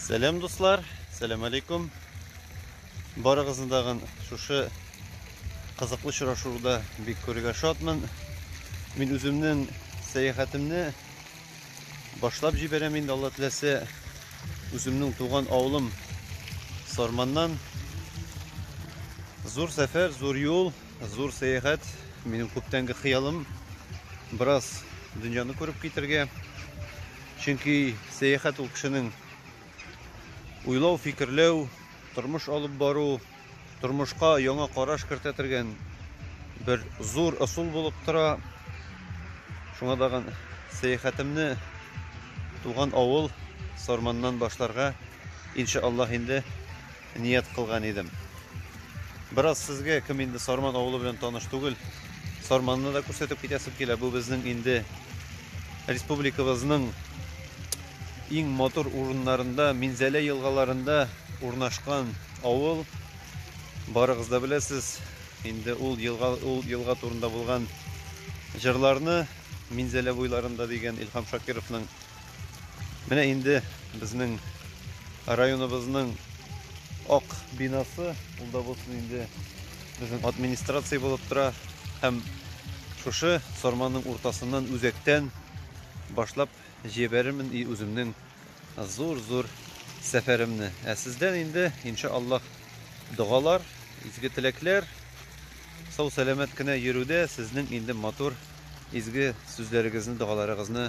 Сәлем дуслар, сәлем алейкум. Барыгызны дагын шушы кызыклы очрашуда бик күрергә шатмын. Мин үземнең сәяхәтемне башлап җибәрәм инде Алла теләсә. Үземнең туган авылым Сарманнан зур сәфәр, зур юл Зур сәяхәт, минем күптәнге хыялым. Бераз дөньяны күреп китергә. Чөнки сәяхәт ул кешенең уйлау, фикерләү, тормыш алып бару, тормышка яңа караш кертә торган бер зур ысул булып тора. Шуңа тагын сәяхәтемне туган авыл Сарманнан башларга иншаллаһ инде Ният кылган идем. Бераз сезгә кем инде Сарман авылы белән таныш түгел, Сарманны да күрсәтеп китәсем килә. Бу безнең инде республикабызның иң матур урыннарында, Минзәлә елгаларында урнашкан авыл. Барыгыз да беләсез, инде ул елга ул елга турында булган җырларны Минзәлә буйларында дигән Илһам Шакировның Менә инде безнең районыбызның ак бинасы, ул да булсын инде безнең администрация булып тора һәм шушы сарманның уртасыннан үзәктән башлап җибәрермен и үземнең зур-зур сәфәремне. Ә сездән инде, иншаллах, догалар, изге теләкләр, сау-сәламәт кенә йөрүдә сезнең инде матур изге сүзләрегезне, догаларыгызны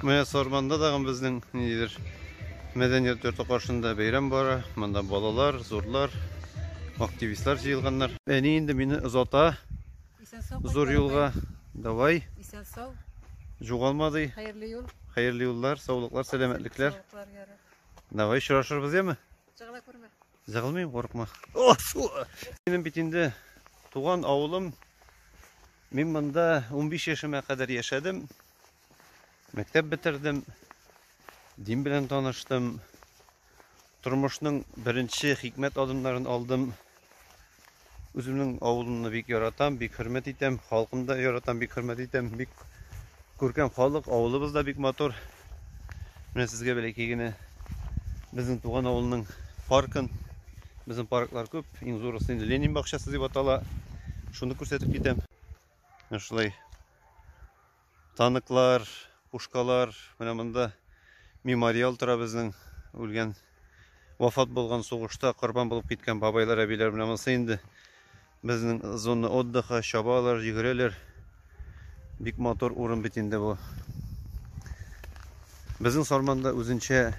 Менә Сарманда тагын безнең ниндидер мәдәният йорты каршында бәйрәм бара. Монда балалар, зурлар, активистлар җыелганнар. Әни инде мине озата. Зур юлга. Давай. Исән сау. Жугалма ди. Хәерле юл. Хәерле юллар, саулыклар, сәламәтлекләр. Давай очрашырбыз, яме? Чыгыла күрмә. Зыгылмыйм, курыкма. Минем бит инде туган авылым. Мин монда 15 яшемә кадәр яшәдем. Мәктәп бетердем. Дин белән таныштым. Тормышның беренче хикмәт адымнарын алдым. Үземнең авылымны бик яратам, бик хөрмәт итәм, халкымны да яратам, бик хөрмәт итәм, бик күркәм халык, авылыбыз да бик матур. Менә сезгә бәләкәй генә безнең туган авылның паркын, безнең парклар күп, иң зурысы инде Ленин бакчасы дип атала. Шуны күрсәтеп китәм. Менә шулай Танклар, пушкалар, менә монда мемориал тора безнең үлгән, вафат булган сугышта корбан булып киткән бабайлар, әбиләр. Менә монысы инде безнең зона отдыха, чабалар, йөгерәләр. Бик матур урын бит инде бу. Безнең Сарманда үзенчә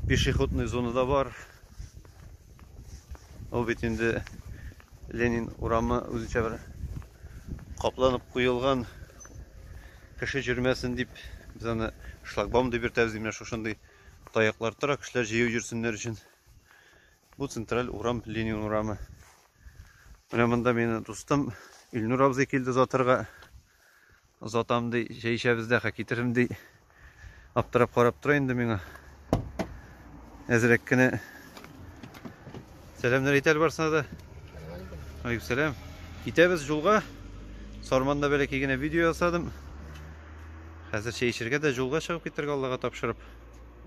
пешеходный зона да бар. Ул бит инде Ленин урамы үзенчә бер капланып куелган кеше җөрмәсен дип без аны шлагбаум дип йөртәбез менә шушындый таяклар тора кешеләр җыю йөрсеннәр өчен бу централь урам Ленин урамы менә монда мине дустым Илнур абзый килде озатырга Озатам ди, чәй эчәбез дә, хә китерим ди. Аптырап карап тора инде миңа. Әзрәк кенә Сәламнәр әйтәл барсына да. Алейкум сәлам. Китәбез юлга. Сарманда бәләкәй генә видео ясадым. Хәзер чәй эчәргә дә юлга чыгып китәргә Аллага тапшырып.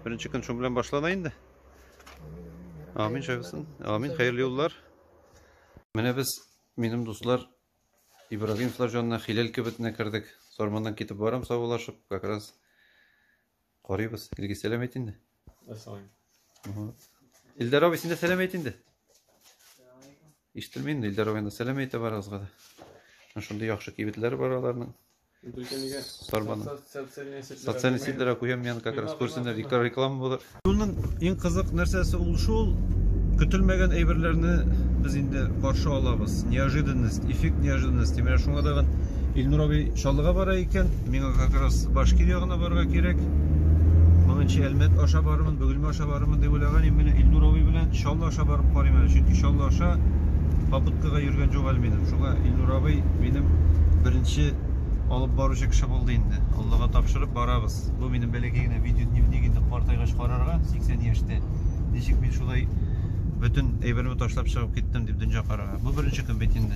Беренче көн шуның белән башлана инде. Амин шәфәсен. Амин хәерле юллар. Менә без минем дуслар Ибрагим Слажонна Хиләл кибетенә кердек. Сарманнан китеп барам саубуллашып, как раз карыйбыз. Илгиз сәлам әйт инде. Ассалам. Илдар абый, син дә сәлам әйт инде. Ишетелми инде Илдар абыйның сәлам әйтә барыгызга да. Шундый яхшы кибетләр бар аларның. Тарбаны. Социальный сетьләргә куям мин как раз күрсеннәр, икәр реклама булыр. Юлның иң кызык нәрсәсе ул шул, көтелмәгән әйберләрне без инде каршы алабыз. Неожиданность, эффект неожиданности. Менә шуңа тагын Илнур абый Чаллыга бара икән, миңа как раз Башкир ягына барырга кирәк. Моңынчы Әлмәт аша барырмын, Бөгелмә аша Чаллыга барырмын дип уйлаган идем, менә Илнур абый белән Чаллы аша барып карыйм әле, чөнки Чаллы аша попыткага йөргән юк әле минем. Шуңа Илнур абый минем беренче алып баручы кеше булды инде. Аллага тапшырып барабыз. Бу минем бәләкәй генә видеодневник инде картайгач карарга, 80 яшьтә. Ничек мин шулай бөтен әйберне ташлап чыгып киттем дип дөнья карага. Бу беренче көн бит инде.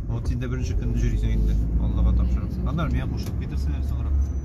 Вот син дә беренче көнне җөрисең инде, Аллага тапшырып. Аннары миңа кушылып китерсеннәр соңрак.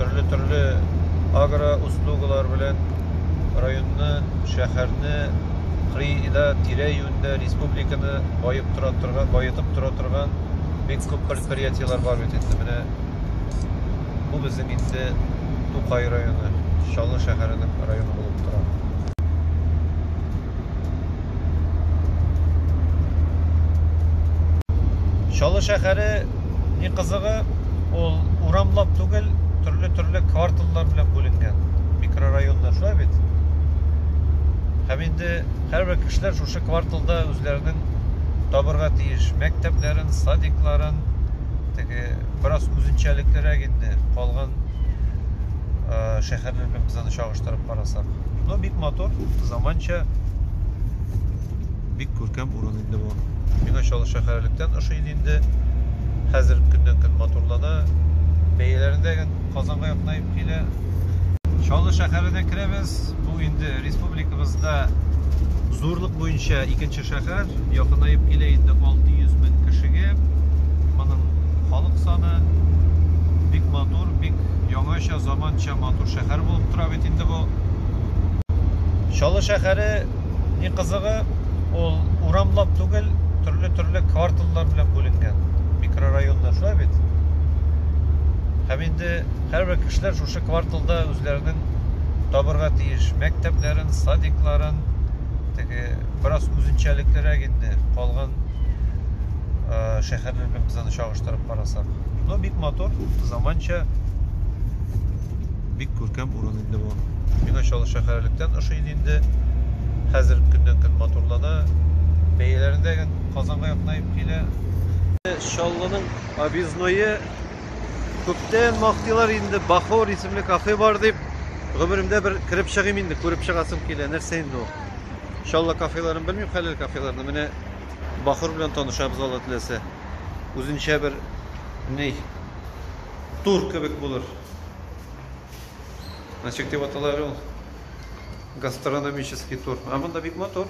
төрле-төрле агроуслугалар белән районны, шәһәрне, кырыйда, тирә-юньдә республиканы баеп тора торган, баетып тора торган бик күп предприятиеләр бар бит инде. Менә бу безнең инде Тукай районы, Чаллы шәһәренең районы булып тора. Чаллы шәһәре ни кызыгы, ул урамлап түгел, төрле-төрле кварталлар белән бүленгән микрорайоннар, шулай бит? Һәм инде һәрбер кешеләр шушы кварталда үзләренең табырга тиеш мәктәпләрен, садикларын, теге бераз үзенчәлеклерәк инде калган шәһәр һәрбер бензаны чагыштырып карасак но бик матур заманча бик күркәм урын инде бу миңа чаллы шәһәрлектән ошый инде хәзер көннән көн матурлана бәяләрендә казанга якынаеп килә чаллы шәһәренә керәбез бу инде республикабызда зурлык буенча икенче Шәһәр якынаеп килә инде 600 мең кешегә. Моның халык саны бик матур, бик яңача, заманча матур шәһәр булып тора бит инде бу. Чаллы шәһәре ни кызыгы, ул урамлап түгел, төрле-төрле кварталлар белән бүленгән, микрорайоннар, шулай бит? Һәм инде һәрбер кешеләр шушы кварталда үзләренең табырга тиеш мәктәпләрен, садикларын, теге бераз үзенчәлеклерәк инде калган э, шәһәрләр белән без аны чагыштырып карасак но бик матур заманча бик күркәм урын инде бу миңа чаллы шәһәрлектән ошый инде хәзер көннән көн матурлана бәяләрендә казанга якынаеп килә чаллының объездное Күптән мактыйлар инде, Бахор исемле кафе бар дип. Гомеремдә бер кереп чыгыйм инде, күреп чыгасым килә. Нәрсә инде ул? Иншалла кафеларын белмим, хәләл кафеларны. Менә Бахор белән танышабыз Алла теләсә. Үзенчә бер ни тур кебек булыр. Ничек дип аталар ул? Гастрономический тур. А монда бик матур.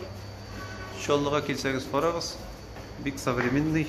Иншаллага килсәгез карагыз. Бик современный.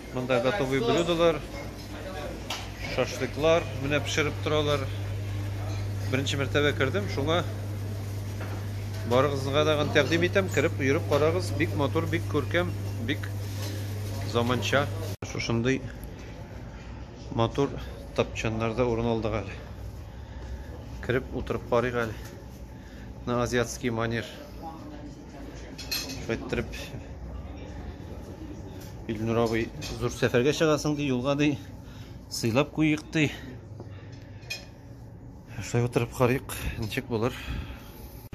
Монда готовый блюдолар, шашлыклар менә пешереп торалар. Беренче мәртәбә кердем, шуңа барыгызга да тәкъдим итәм, кереп йөреп карагыз. Бик матур, бик күркәм, бик заманча. Шушындый матур тапчаннарда урын алдык әле. Кереп утырып карыйк әле. На азиатский манер. Шулай иттереп Илнур абый зур сәфәргә чыгасың ди, юлга ди. Сыйлап куйыйк ди. Шулай утырып карыйк, ничек булыр.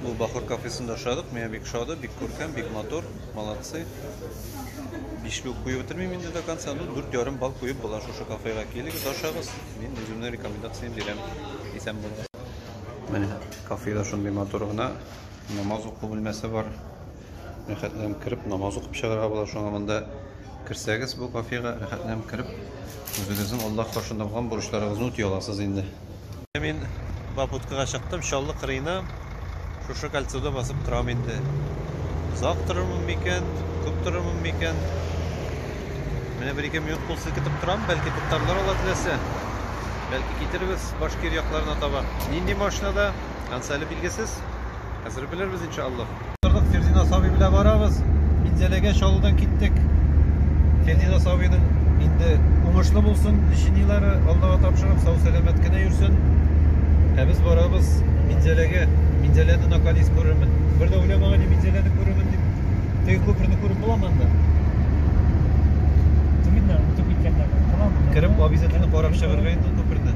Бу Бахор кафесында ашадык, миңа бик шады, бик күркәм, бик матур, молодцы. Бишле үк куеп бетермим инде до конца, ну, дүрт ярым бал куеп була шушы кафега. Килегез, ашагыз, мин үземнең рекомендацияне бирәм. Исән булыгыз. Менә кафеда шундый матур гына Намаз уку бүлмәсе бар. Рәхәтләнеп кереп, намаз укып чыгарга була. Шуңа монда керсәгез бу кафега рәхәтләнеп кереп, үзегезнең Аллаһ каршында булган бурычларыгызны үти аласыз инде. Мин Бабуткага чыктым, Чаллы кырыена шушы кольцода басып торам инде. Озак торырмын микән, күп торырмын микән? Менә бер-ике минут кул селкетеп торам, бәлки туктарлар алар теләсә. Бәлки китербез Башкир якларына таба. Нинди машинада? Кансә әле билгесез. Хәзер белербез иншаллаһ. Тордык, Фердина Саби белән барабыз. Минзәләгә чалудан киттек. Фердина Сабиның инде уңышлы булсын, лечениеләре Аллага тапшырып, сау-сәламәт кенә йөрсен. Ә без барабыз Минзәләгә. Минзәләне наконец күрермен. Бер дә уйламаган идем Минзәләне күрермен дип. Теге күперне күреп буламы анда? Түгелләр, үтеп киткәннәр. Буламы? Кереп, обязательно карап чыгарга инде ул күперне.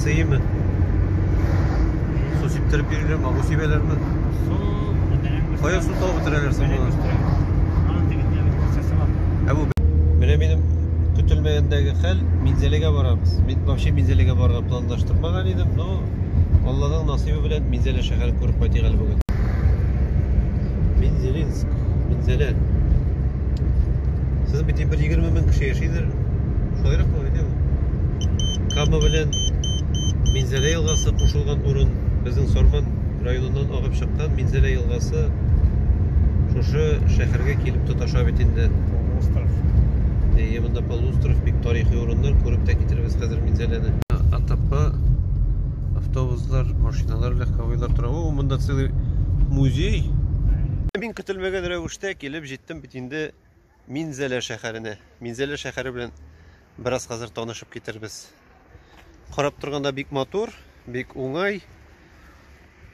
Сыймы? Су сиптереп бирелер, магу сибәләрме? Су бетерәм. Кая су табып бетерәләр соң моны? Аның тегендә бер процессы бар. Ә бу менә минем көтелмәгәндәге хәл, Минзәлегә барабыз. Мин вообще Минзәлегә барырга планлаштырмаган идем, но Алланың насыйбы белән Минзәлә шәһәрен күреп кайтыйк әле бүген. Минзелинск, Минзәлә. Сез бит бер 20 мең кеше яшидер. Шулайрак булып әйтәме? Кама белән Минзәлә елгасы кушылган урын безнең Сарман районыннан агып чыккан Минзәлә елгасы шушы шәһәргә килеп тоташа бит инде. Полуостров. Әйе, монда полуостров, бик тарихи урыннар, күреп тә китербез хәзер Минзәләне. Атапа автобуслар, машиналар, легковойлар тора. О, монда целый музей. Мин көтелмәгән рәвештә килеп җиттем бит инде. Минзәлә шәһәренә. Минзәлә шәһәре белән бераз хәзер танышып китербез. Карап торганда бик матур, бик уңай.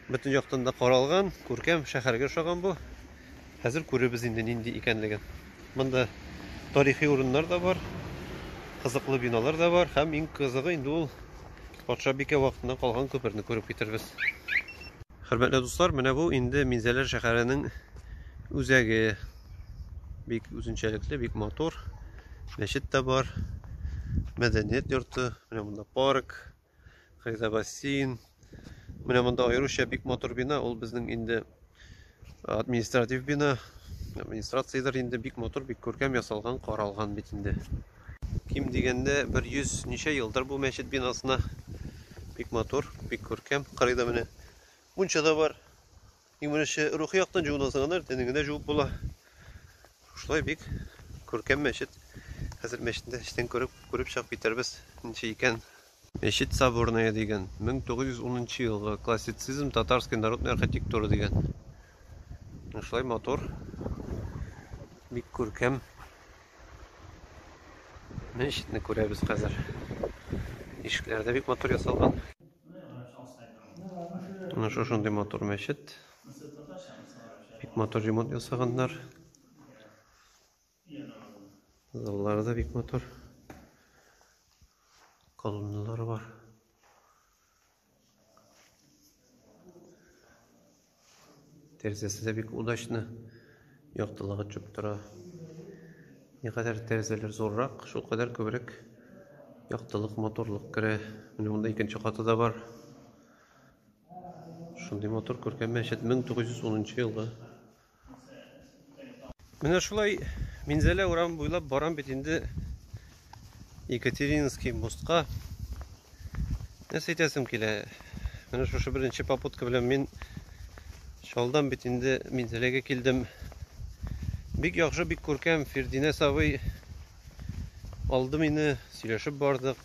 Бөтен яктан да каралган, күркәм шәһәргә ошаган бу. Хәзер күребез инде нинди икәнлеген. Монда тарихи урыннар да бар, кызыклы биналар да бар һәм иң кызыгы инде ул патша бикә вакытыннан калган күперне күреп китербез. Хөрмәтле дуслар, менә бу инде Минзәлә шәһәренең үзәге. Бик үзенчәлекле, бик матур. Мәчет тә бар. Мәдәният йорты. Менә монда парк. Кайда бассейн. Менә монда аеруча бик матур бина. Ул безнең инде административ бина. Администрациядер инде бик матур, бик күркәм ясалган, каралган бит инде. Ким дигәндә 100 ничә елдыр бу мәчет бинасына. Бик матур, бик күркәм. Кырыйда менә мунча да бар. Иң беренче рухи яктан җуына сыганыр, тәнеңе дә җуып була. Шулай бик күркәм мәчет. Хәзер мәчетне эчтән күреп, күреп чыгып китәрбез. Ничә икән? Мәчет Соборная дигән, 1910 елгы классицизм, татарский народный архитектура дигән. Шулай матур. Бик күркәм. Мәчетне күрәбез хәзер. Ишекләре дә бик матур ясалган. Менә шушындый матур мәчет. Бик матур ремонт ясаганнар. Заллары да бик матур. Колонналар бар. Тәрзәсе дә бик удачны. Яктылыгы чүп тора. Никадәр тәрзәләр зуррак, шул кадәр күбрәк яктылык, моторлык керә. Менә монда икенче каты да бар. Шундый мотор күркәм мәчет 1910 елгы. Менә шулай Минзәлә урам буйлап барам бит инде Екатерининский мостка. Нәрсә әйтәсем килә? Менә шушы беренче попутка белән мин шалдан бит инде Минзәләгә килдем. Бик яхшы, бик күркәм Фердинә сабый алды мине, сөйләшеп бардык.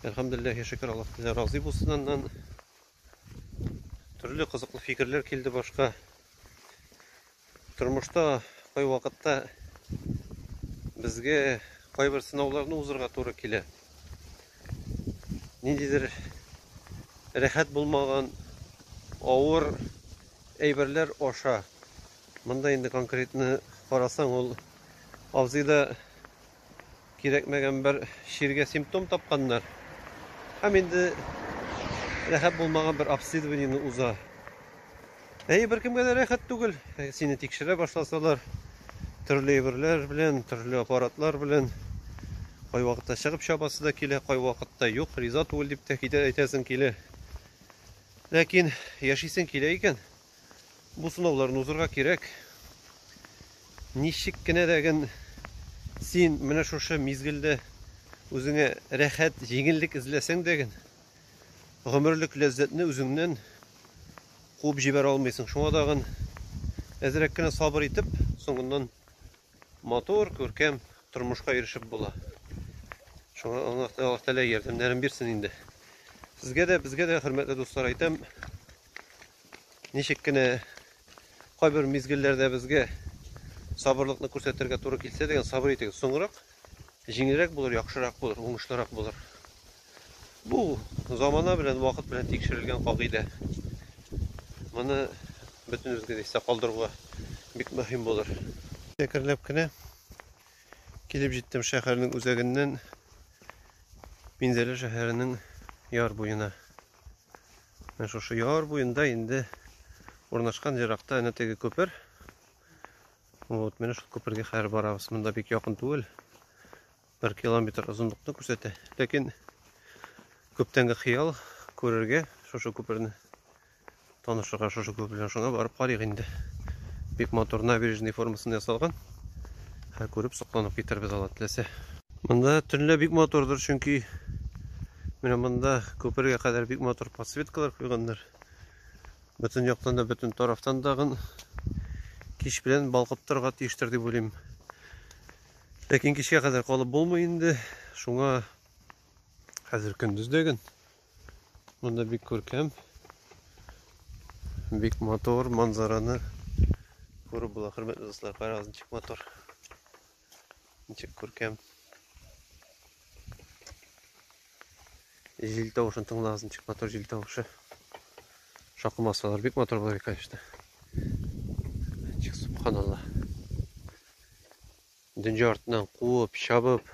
Әлхәмдулиллаһи шөкер, Аллаһ разый булсын аннан. Төрле кызыклы фикерләр килде башка. Тормышта кай вакытта безгә кайбер сынауларны узырга туры килә. Ниндидер рәхәт булмаган авыр әйберләр аша. Монда инде конкретны карасаң, ул абзыйда Кирәкмәгән бер чиргә симптом тапканнар. Һәм инде рәхәт булмаган бер обследованиене уза. Әйе, беркемгә дә рәхәт түгел. Сине тикшерә башласалар, төрле әйберләр белән, төрле аппаратлар белән кайвакытта чыгып чабасы да килә, кайвакытта юк, риза түгел дип тә әйтәсең килә. Ләкин яшисең килә икән, Бу сынауларны узырга кирәк. Ничек кенә дә ген син менә шушы мизгелдә үзеңә рәхәт, җиңеллек эзләсәң дә ген, гомерлек ләззәтне үзеңнән куып җибәрә алмыйсың. Шуңа да ген әзрәк кенә сабыр итеп, соңыннан матур, күркәм тормышка ирешеп була. Шуңа Аллаһ Тәгалә ярдәмнәрен бирсен инде. Сезгә дә, безгә дә, хөрмәтле дуслар, әйтәм, Ничек кенә кайбер мизгелләрдә безгә сабырлыкны күрсәтергә туры килсә дигән сабыр итегез. Соңрак җиңелрәк булыр, яхшырак булыр, уңышлырак булыр. Бу замана белән, вакыт белән тикшерелгән кагыйдә. Моны бөтенебезгә дә истә калдыруга бик мөһим булыр. Әкренләп кенә килеп җиттем шәһәрнең үзәгеннән Минзәлә шәһәренең яр буена. Менә шушы яр буенда инде урнашкан еракта әнә теге күпер. Вот, менә шул күпергә хәзер барабыз. Монда бик якын түгел. 1 километр озынлыкны күрсәтә. Ләкин күптәнге хыял күрергә шушы күперне танышырга шушы күпер белән шуңа барып карыйк инде. Бик матур набережный формасында ясалган. Һәр күреп сокланып китербез алла теләсә. Монда төнлә бик матурдыр, чөнки менә монда күпергә кадәр бик матур подсветкалар куйганнар. Бөтен яктан да, бөтен тарафтан да гын кич белән балкып торырга тиештер дип уйлыйм. Ләкин кичкә кадәр калып булмый инде. Шуңа хәзер көндездәген монда бик күркәм, бик матур манзараны күреп була. Хөрмәтле дуслар, карагыз ничек матур. Ничек күркәм. Җил тавышын тыңлагыз, ничек матур җил тавышы. Шакы масалар бик матур булыр, конечно. Ничек субханалла. Дөнья артыннан куып, чабып,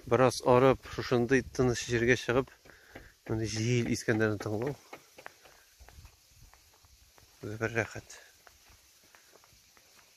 бераз арып, шушындый тыныч җиргә чыгып, моны җил искәннәрен тыңлау. Бер рәхәт.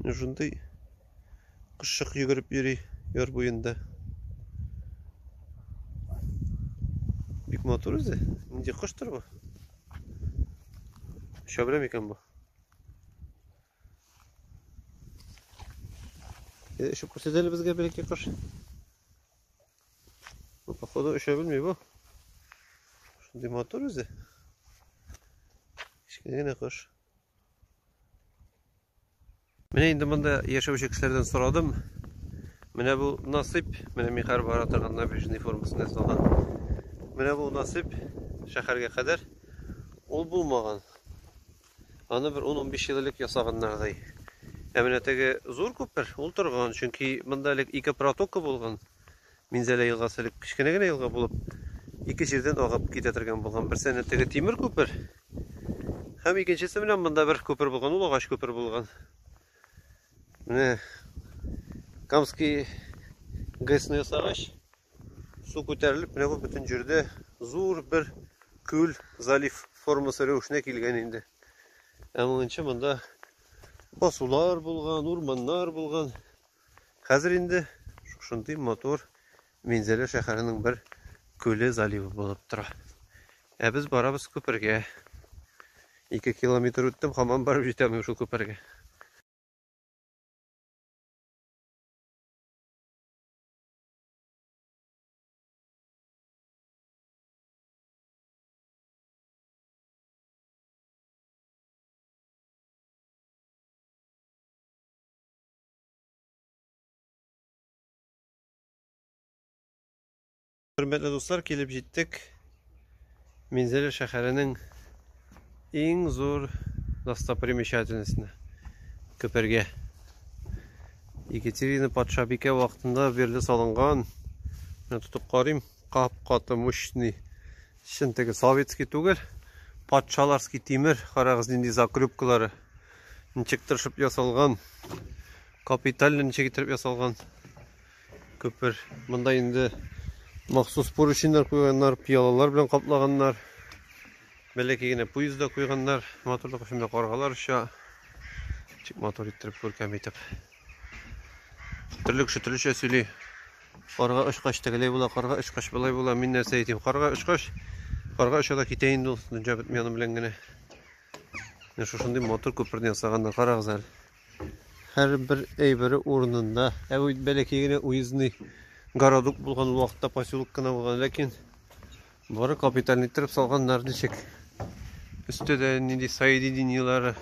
Менә шундый кышчык йөгереп йөри яр буенда. Бик матур үзе. Нинди коштыр бу? Оча белә микән бу? Әйдә очып күрсәт әле безгә бәләкәй кош. Бу походу оча белми бу. Шундый матур үзе. Кечкенә генә кош. Менә инде монда яшәүче кешеләрдән сорадым. Менә бу насыйп, менә мин хәзер бара торган набережный формасын ясалган. Менә бу насыйп шәһәргә кадәр ул булмаган. Аны бер 10-15 ел элек ясаганнардай. Ә менә теге зур күпер ул торган, чөнки монда элек ике протока булган. Минзәлә елгасы элек кечкенә генә елга булып, ике җирдән агып китә торган булган. Берсенә теге тимер күпер һәм икенчесе белән монда бер күпер булган, ул агач күпер булган. Менә Камский ГЭСны ясагач, су күтәрелеп, менә бу бөтен җирдә зур бер күл, залив формасы рәвешенә килгән инде. Ә монча монда басулар булган, урманнар булган. Хәзер инде шушындый матур Минзәлә шәһәренең бер күле заливы булып тора. Ә без барабыз күпергә. Ике километр үттем, хамам барып җитәмим шул күпергә. Хөрмәтле дуслар, килеп җиттек Минзәлә шәһәренең иң зур достопримечательностена Көпергә. Екатерина патшабикә вакытында бирле салынган. Мен тотып карыйм, кап-каты мощный Чын теге советский түгел, патшаларский тимер, карагыз нинди закрюпкалары. Ничек тырышып ясалган, капиталь ничек итеп ясалган күпер. Монда инде махсус порученьнар куйганнар, пиялалар белән каплаганнар. Бәләкәй генә поездда куйганнар, матурлык өчен каргалар оча. Ничек матур иттереп күркәм итеп. Төрле кеше төрлечә сөйли. Карга очкач тегеләй була, карга очкач былай була. Мин нәрсә әйтим? Карга очкач, карга оча да китә инде ул дөнья бетми аның белән генә. Менә шушындый матур күперне ясаганнар, карагыз әле. Һәрбер әйбере урынында. Ә бу бәләкәй генә уездный городок булган вакытта поселок кына булган, ләкин бары капиталь иттереп салганнар ничек. Өстә дә нинди соединениеләре.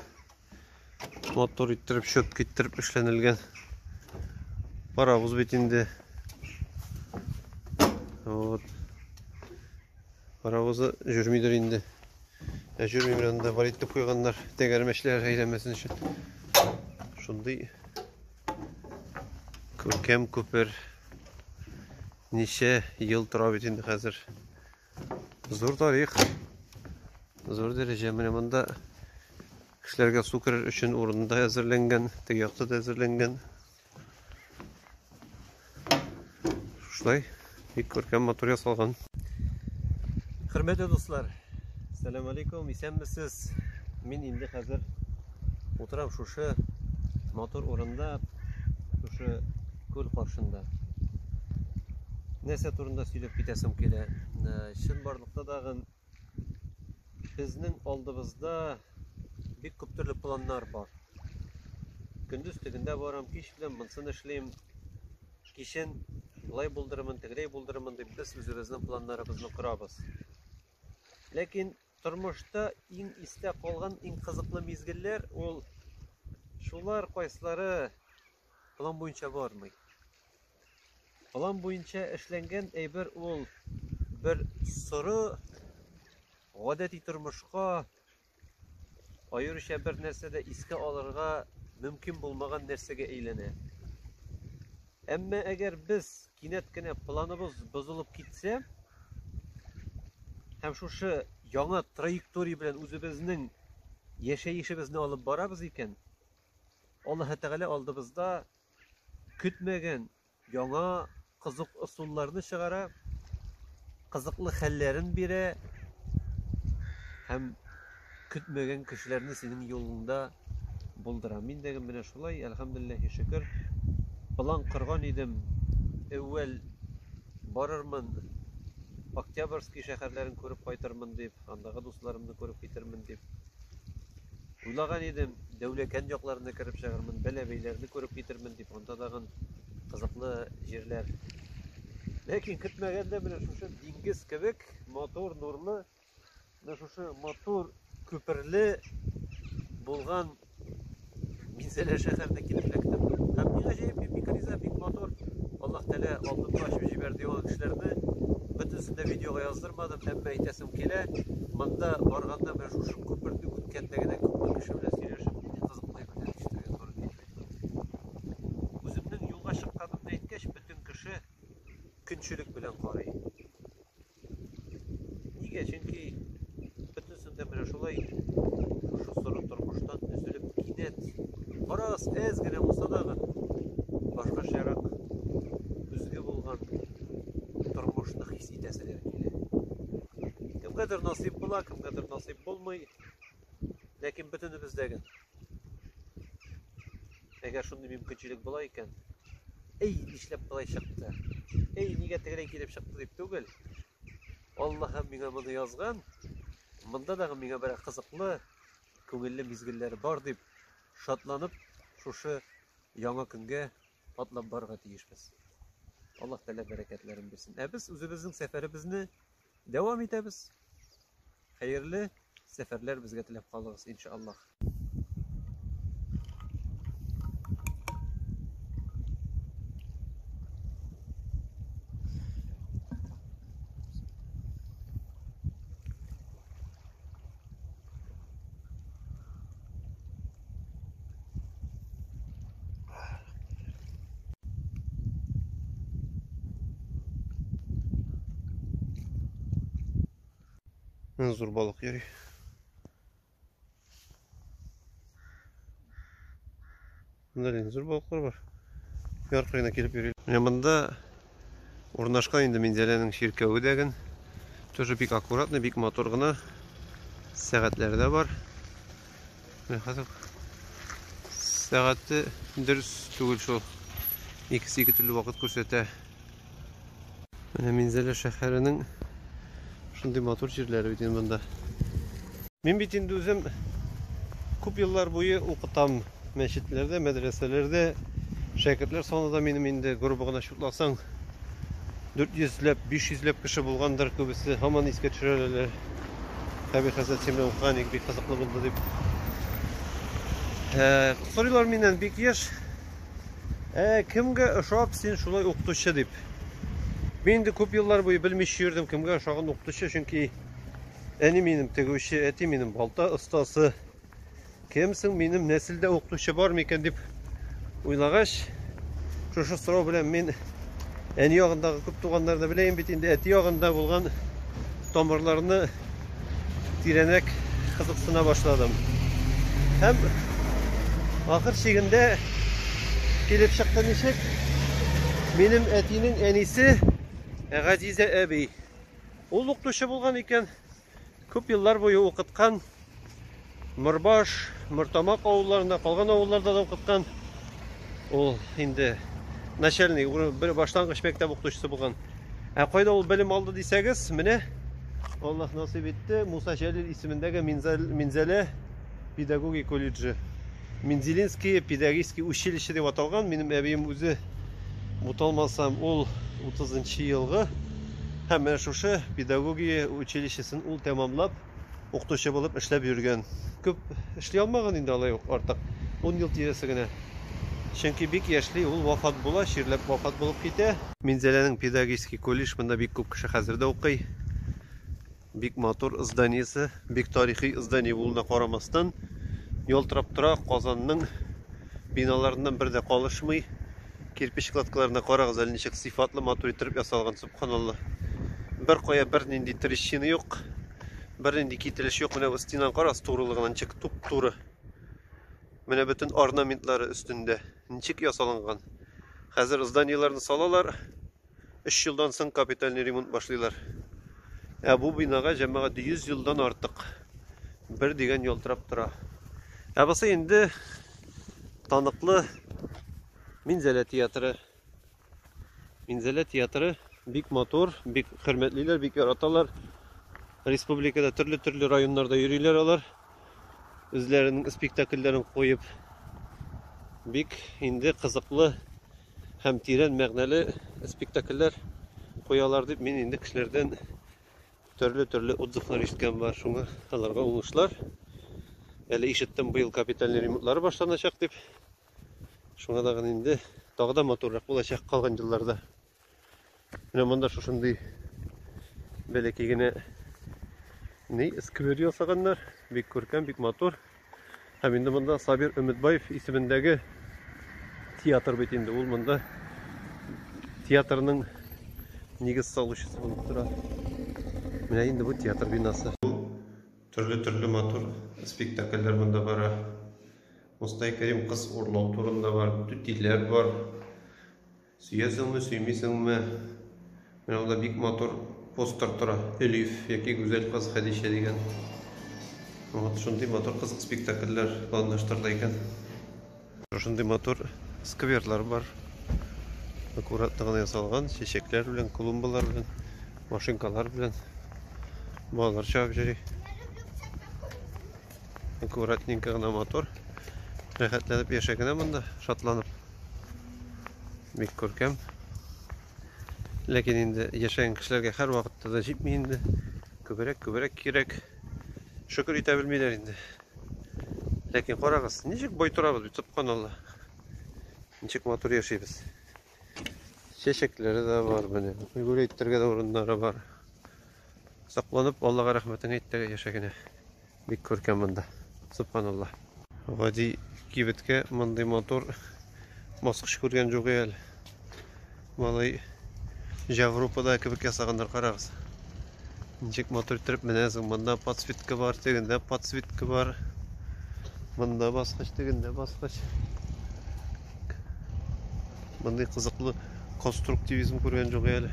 Матур иттереп, чөп киттереп эшләнелгән. Паровоз бит инде. Вот. Паровозы жүрмидер инде. Ә жүрми белән дә бар итеп куйганнар, тәгәрмәчләр әйләмәсен өчен. Шундый күркәм күпер. Ничә ел тора бит инде хәзер. Зур тарих. Зур дәрәҗә. Менә монда кешеләргә су керер өчен урын да әзерләнгән, теге якта да әзерләнгән. Шулай бик күркәм матур ясалган. Хөрмәтле дуслар, сәлам алейкум, исәнмесез. Мин инде хәзер Утырам шушы матур урында, шушы күл каршында. Нәрсә турында сөйләп китәсем килә? Э, чын барлыкта дагы безнең алдыбызда бик күп төрле планнар бар. Көндез тегендә барам, кич белән монсын эшлим. Кичен былай булдырымын, тегеләй булдырымын дип без үзебезнең планнарыбызны корабыз. Ләкин Тормышта иң истә калган иң кызыклы мизгелләр ул шулар, кайсылары план буенча бармый. План буенча эшләнгән әйбер ул бер соры гадәти тормышка аеруча бер нәрсә дә искә алырга мөмкин булмаган нәрсәгә әйләнә. Әмма әгәр без кинәт кенә планыбыз бозылып китсә, һәм шушы яңа траектория белән үзебезнең яшәешебезне алып барабыз икән, Аллаһы Тәгалә алдыбызда көтмәгән яңа кызык ысулларны чыгара, кызыклы хәлләрен бирә һәм Көтмәгән кешеләрне синең юлыңда булдырам. Мин дә менә шулай, әлхәмдүлилләһи шөкер, план корган идем. Әүвәл барырмын, Октябрьский шәһәрләрен күреп кайтырмын дип, андагы дусларымны күреп китермен дип. Уйлаган идем, Дәүләкән якларына кереп чыгармын, Бәләбәйләрне күреп китермен дип, анда тагын кызыклы җирләр. Ләкин көтмәгәндә менә шушы диңгез кебек матур, нурлы Менә шушы матур күперле булган Минзәлә шәһәренә килеп эләктем. Һәм бик гаҗәеп, бик риза, бик матур. Аллаһ Тәгалә алдымны ачып җибәрде яңа кешеләрне. Бөтенесен дә видеога яздырмадым, әмма әйтәсем килә. Монда барганда менә шушы күперне үткәндә генә күпме кеше белән сөйләшеп, нинди кызыклы әйберләр ишетергә туры килде. Үземнең юлга чыкканымны әйткәч, бөтен кеше көнчелек белән карый. Нигә? Чөнки бөтенесендә менә шулай шушы соры тормыштан өзелеп кинәт бераз әз генә булса дағы башкачарак көзге булган тормышны хис итәселәр килә. Кемгәдер насыйп була, кемгәдер насыйп булмый. Ләкин бөтенебез дә генә. Әгәр шундый мөмкинчелек була икән, әй, нишләп болай чыкты? Әй, нигә тегеләй килеп чыкты дип түгел. Аллаһым миңа моны язган. Монда дагы миңа бер кызыклы, күңелле мизгелләр бар дип шатланып, шушы яңа көнгә атлап барырга тиешбез. Аллаһ Тәгалә бәрәкәтләрен бирсен. Ә без үзебезнең сәфәребезне Дәвам итәбез. Хәерле сәфәрләр безгә теләп калыгыз, иншаллах. Зур балык йөри. Мында зур балыклар бар. Яркайына килеп йөри. Менә монда Урнашкан инде Минзәләнең чиркәве дәген. Тоже бик аккуратный, бик матур гына. Сәгатьләре дә бар. Менә хәзер сәгате дөрес түгел шул. Икесе ике төрле вакыт күрсәтә. Менә Минзәлә шәһәренең шундый матур җирләре бит инде монда. Мин бит инде үзем күп еллар буе укытам. мәчетләрдә, мәдрәсәләрдә шәкертләр саны да минем инде грубо гына чутласаң 400 ләп, 500 ләп кеше булгандыр, күбесе һаман искә төшерәләр. Хәби хәзрәт син белән укыган бик кызыклы булды дип. Ә, сорыйлар миннән бик еш. Ә кемгә ошап син шулай укытучы дип. Мин инде күп еллар буе белмичә йөрдем, кемгә ошаган укытучы, чөнки әни минем тегүче, әти минем балта остасы. Кем соң минем нәселдә укытучы бар микән дип уйлагач, шушы сорау белән мин әни ягындагы күп туганнарны беләем бит инде, әти ягында булган тамырларны тирәнәк кызыксына башладым. Һәм ахыр чигендә килеп чыкты ничек? Минем әтинең әнисе Газизә әби. Ул укытучы булган икән. Күп еллар буе укыткан Морбаш, Мортамак авылларында, калган авылларда да укыткан. Ул инде начальный, бер баштангыч мәктәп укытучысы булган. Ә кайда ул белем алды дисәгез, менә Аллаһ насыйп итте, Муса Җәлил исемендәге Минзәлә Педагогия колледжы. Мензелинские педагогические училище дип аталган. Минем әбием үзе буталмасам, ул 30 елгы һәм менә шушы педагогия училищесын ул тәмамлап, укытучы булып эшләп йөргән. Күп эшли алмаган инде алай ук артык. 10 ел тирәсе генә. Чөнки бик яшьли ул вафат була, чирләп вафат булып китә. Минзәләнең педагогический колледж, монда бик күп кеше хәзер дә укый. Бик матур зданиесе, бик тарихи здание булуына карамастан, ялтырап тора Казанның биналарыннан бер дә калышмый. Кирпич кладкаларына карагыз әле ничек сыйфатлы матур иттереп ясалган, субханалла. Бер кая бернинди трещина юк, бернинди кителеш юк. Менә стенаны карагыз турылыгына ничек туп-туры. Менә бөтен орнаментлары өстендә ничек ясалган. Хәзер зданиеләрне салалар, 3 елдан соң капитальный ремонт башлыйлар. Ә бу бинага җәмәгать 100 елдан артык бер дигән ялтырап тора. Ә бусы инде таныклы Минзәлә театры. Минзәлә театры бик матур, бик хөрмәтлиләр, бик яраталар. Республикада төрле-төрле районнарда йөриләр алар. Үзләренең спектакльләрен куеп бик инде кызыклы һәм тирән мәгънәле спектакльләр куялар дип мин инде кешеләрдән төрле-төрле отзывлар ишеткән бар. Шуңа аларга уңышлар. Әле ишеттем, быел капитальный ремонтлары башланачак дип. Шуңа тагын инде тагы да матуррак булачак калган елларда. Менә монда шушындый бәләкәй генә ни сквер ясаганнар. Бик күркәм, бик матур. Һәм инде монда Сабир Өметбаев исемендәге театр бит инде. Ул монда театрның нигез салучысы булып тора. Менә инде бу театр бинасы. Төрле-төрле матур спектакльләр монда бара. Мустай Кәрим кыз урлау турында бар, түтиләр бар. Сөясеңме, сөймисеңме, менә монда бик матур постер тора. Элиф яки Гүзәл кыз Хәдичә дигән. Вот шундый матур кызык спектакльләр планлаштырыла икән. Шундый матур скверлар бар. Аккуратно гына ясалган, чәчәкләр белән, клумбалар белән, машинкалар белән. Балалар чабып йөри. Аккуратненько гына матур. Рәхәтләнеп яшәгенә монда, шатланып. Бик күркәм. Ләкин инде яшәгән кешеләргә һәр вакытта да җитми инде. Күбрәк, күбрәк кирәк. Шөкер итә белмиләр инде. Ләкин карагыз, ничек бай торабыз бит, субханалла. Ничек матур яшибез. Чәчәкләре дә бар, менә. Гүр әйтергә дә урыннары бар. Сакланып, Аллага рәхмәтең әйт тә яшә генә. Бик күркәм монда. Субханаллаһ. Гади кибеткә мондый матур баскыч күргән юк әле. Малай Җавропада кебек ясаганнар, карагыз. Ничек матур иттереп менәсең. Монда подсветка бар, тегендә подсветка бар. Монда баскыч, тегендә баскыч. Мондый кызыклы конструктивизм күргән юк әле.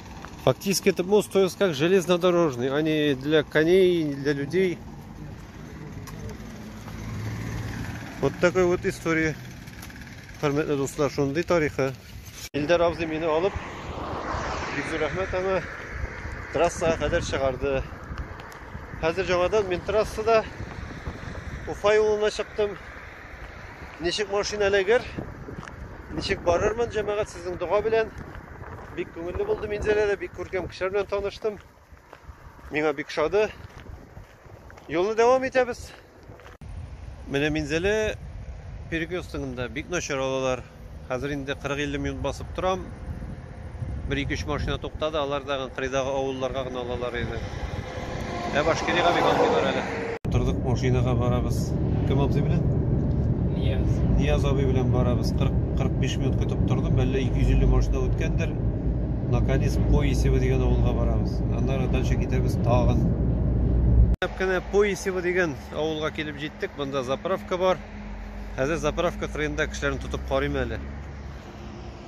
Фактически этот мост строился как железнодорожный, а не для коней, не для людей. Вот такой вот история. Хөрмәтле дуслар, шундый тарихы. Илдар абзый мине алып, бик зур рәхмәт аңа. Трассага кадәр чыгарды. Хәзер жаңадан мин трассада Уфа юлына чыктым. Ничек машина эләгер? Ничек барырмын, җәмәгать, сезнең дога белән. Бик күңелле булды Минзәлә дә, бик күркәм кешеләр белән таныштым. Миңа бик шады. Юлны дәвам итәбез. Менә Минзәлә перекрестогында бик начар алалар. Хәзер инде 40-50 минут басып торам. Бер ике-өч машина туктады, алар да кырыйдагы авылларга гына алалар иде. Ә башкирига бик алмыйлар әле. Утырдык машинага барабыз. Кем абзый белән? Нияз. Нияз абый белән барабыз. 40-45 минут көтеп тордым. Әллә 250 машина үткәндер. Наконец Поисево дигән авылга барабыз. Аннары дальше китәбез тагын. Әп кенә Поисево дигән авылга килеп җиттек. Монда заправка бар. Хәзер заправка кырыенда кешеләрне тотып карыйм әле.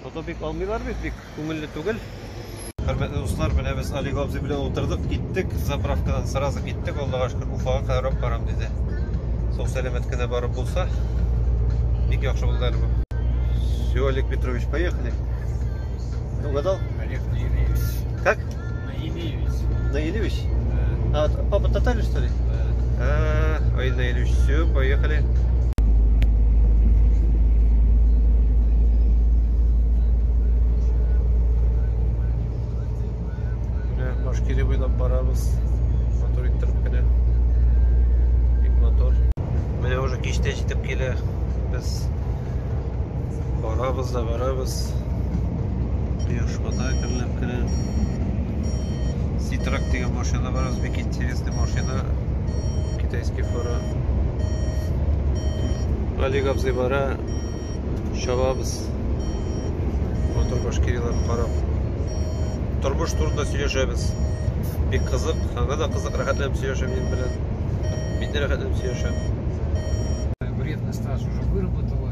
Фото бик алмыйлар бит, бик күңелле түгел. Хөрмәтле дуслар, менә без Олег абзый белән утырдык, киттек, заправкадан сразу киттек, Аллага шөкер, Уфага кадәр алып барам диде. Сау-сәламәт кенә барып булса, бик яхшы булды әле бу. Все, Олег Петрович, поехали. Угадал? Олег Юрьевич. Как? Наилевич. Наилевич? Да. А, папа татарин, что ли? Да. А, ой, Наилевич, все, поехали. Башкирия буйлап барабыз. Мотор иттереп кенә. Бик мотор. Менә уже кичтә җитеп килә. Без барабыз да барабыз. Кояш бата көнләп. керер. Ситрак дигән машина бар, аз бик интересный машина. Китайский фара. Олег абзый бара, чабабыз. Мотор башкириларын карап. Тормыш турында сөйләшәбез. Бик кызык, аңа да кызык, рәхәтләнеп сөйләшәм мин белән. Мин дә рәхәтләнеп сөйләшәм. Вредный стаж уже выработала.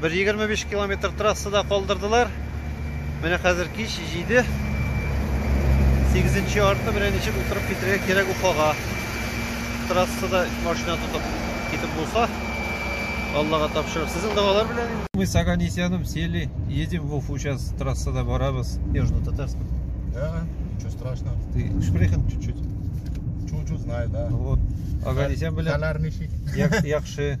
Бер 25 километр трассада калдырдылар. Менә хәзер кич 7. 8 арты белән ничек утырып китергә кирәк Уфага. Трассада машина тотып китеп булса, Аллага тапшырып. Сезнең догалар белән. Мы с Аганесяном сели, едем в Уфу сейчас трассада барабыз. Южно-Татарском. Да, ничего страшного. Ты шпрехен чуть-чуть. Чуть-чуть знаю, да. Вот. Аганесян белән. Хәләр ничек? Як, якшы.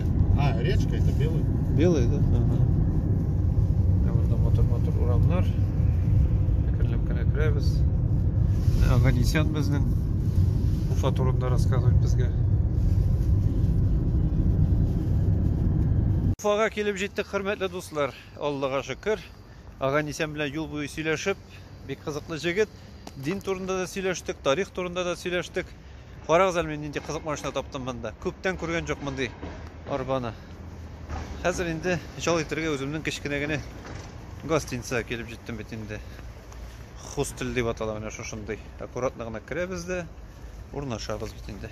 А, речка это белый. Белый, да? Ага. Ә монда матур-матур урамнар. Әкренләп кенә керәбез. Аганисян безнең Уфа турында рассказывать безгә. Уфага килеп җиттек, хөрмәтле дуслар. Аллага шөкер. Аганисян белән юл буе сөйләшеп, Бик кызыклы җегет. Дин турында да сөйләштек, тарих турында да сөйләштек. Карагыз әле мин нинди кызык машина таптым монда. Күптән күргән жоқ мондый арбаны. Хәзер инде җал итәргә үземнең кечкенә генә гостиницага килеп җиттем бит инде. Хостел дип атала менә шушындый. Аккуратно гына керәбез дә урнашабыз бит инде.